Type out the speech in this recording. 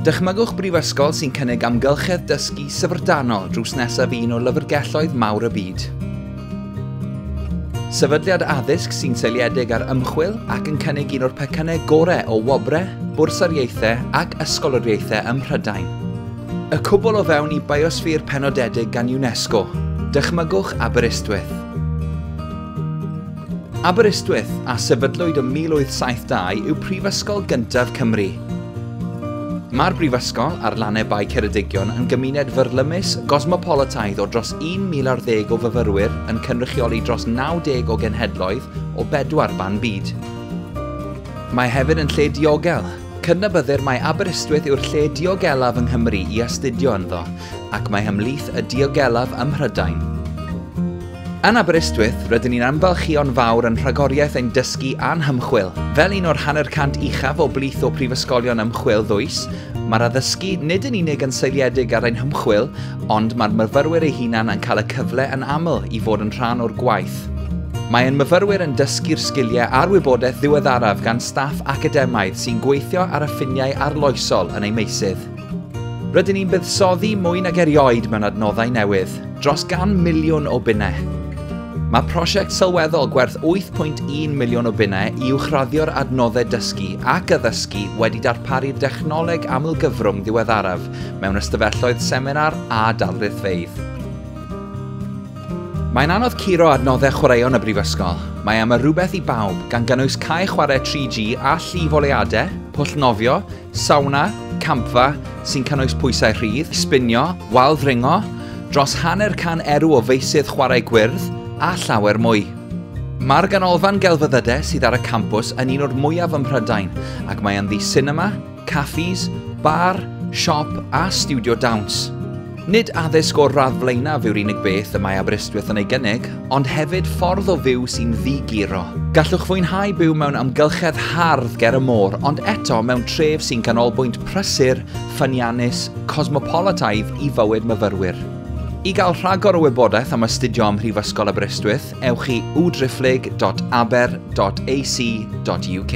Dychmygwch brifysgol sy'n cynnig amgylchedd dysgu syfrdanol drws nesaf un o lyfrgelloedd mawr y byd. Sefydliad addysg sy'n seiliedig ar ymchwil ac yn cynnig un o'r pecynnau gorau o wobrau, bwrsariaethau ac ysgoloriaethau ym Mhrydain. Y cwbl o fewn i biosffîr penodedig gan UNESCO, dychmygwch Aberystwyth. Aberystwyth, a sefydlwyd ym 1872, yw prifysgol gyntaf Cymru. Mae'r brifysgol ar lannau Bae Ceredigion yn gymuned fyrlymus gosmopolitaidd o dros 1,000 ar ddeg o fyfyrwyr yn cynrychioli dros 90 o genhedloedd o bedwar ban byd. Mae hefyd yn lle diogel. Cydnabyddir mai Aberystwyth yw'r lle diogelaf yng Nghymru i astudio ynddo, ac mae hymhlith y diogelaf ym Mhrydain. Yn Aberystwyth, rydyn ni'n ymfalchïo'n fawr yn rhagoriaeth ein dysgu a'n hymchwil. Fel un o'r hanner cant uchaf o blith o prifysgolion ymchwil ddwys, mae'r addysgu nid yn unig yn seiliedig ar ein hymchwil, ond mae'r myfyrwyr eu hunain yn cael y cyfle yn aml i fod yn rhan o'r gwaith. Mae ein myfyrwyr yn dysgu'r sgiliau a'r wybodaeth ddiweddaraf gan staff academaidd sy'n gweithio ar y ffiniau arloesol yn eu meysydd. Rydyn ni'n buddsoddi mwy nag erioed mewn adnoddau newydd, dros gan miliwn o bunnau. Mae prosiect sylweddol gwerth 8.1 miliwn o bunnau i uwchraddio'r adnoddau dysgu ac addysgu wedi darparu dechnoleg amlgyfrwng ddiweddaraf mewn ystafelloedd seminar a darlithfeydd. Mae'n anodd curo adnoddau chwaraeon y Brifysgol. Mae am y rhywbeth i bawb, gan gynnwys cae chwarae 3G a llif oleadau, pwll nofio, Sawna, campfa, sy'n cynnwys pwysau rhydd, sbinio, wal ddringo, dros hanner can erw o feysydd chwarae gwyrdd, a llawer mwy. Mae'r ganolfan gelfyddydau sydd ar y campws yn un o'r mwyaf ym Mhrydain ac mae ynddi sinema, caffis, bar, siop a stiwdio dawns. Nid addysg o'r radd flaenaf yw'r unig beth y mae Aberystwyth yn ei gynnig, ond hefyd ffordd o fyw sy'n ddi-guro. Gallwch fwynhau byw mewn amgylchedd hardd ger y môr, ond eto mewn tref sy'n ganolbwynt prysur, ffyniannus, cosmopolataidd i fywyd myfyrwyr. I gael rhagor o wybodaeth am astudio ym Mhrifysgol Aberystwyth, ewch i wdriphlyg.aber.ac.uk.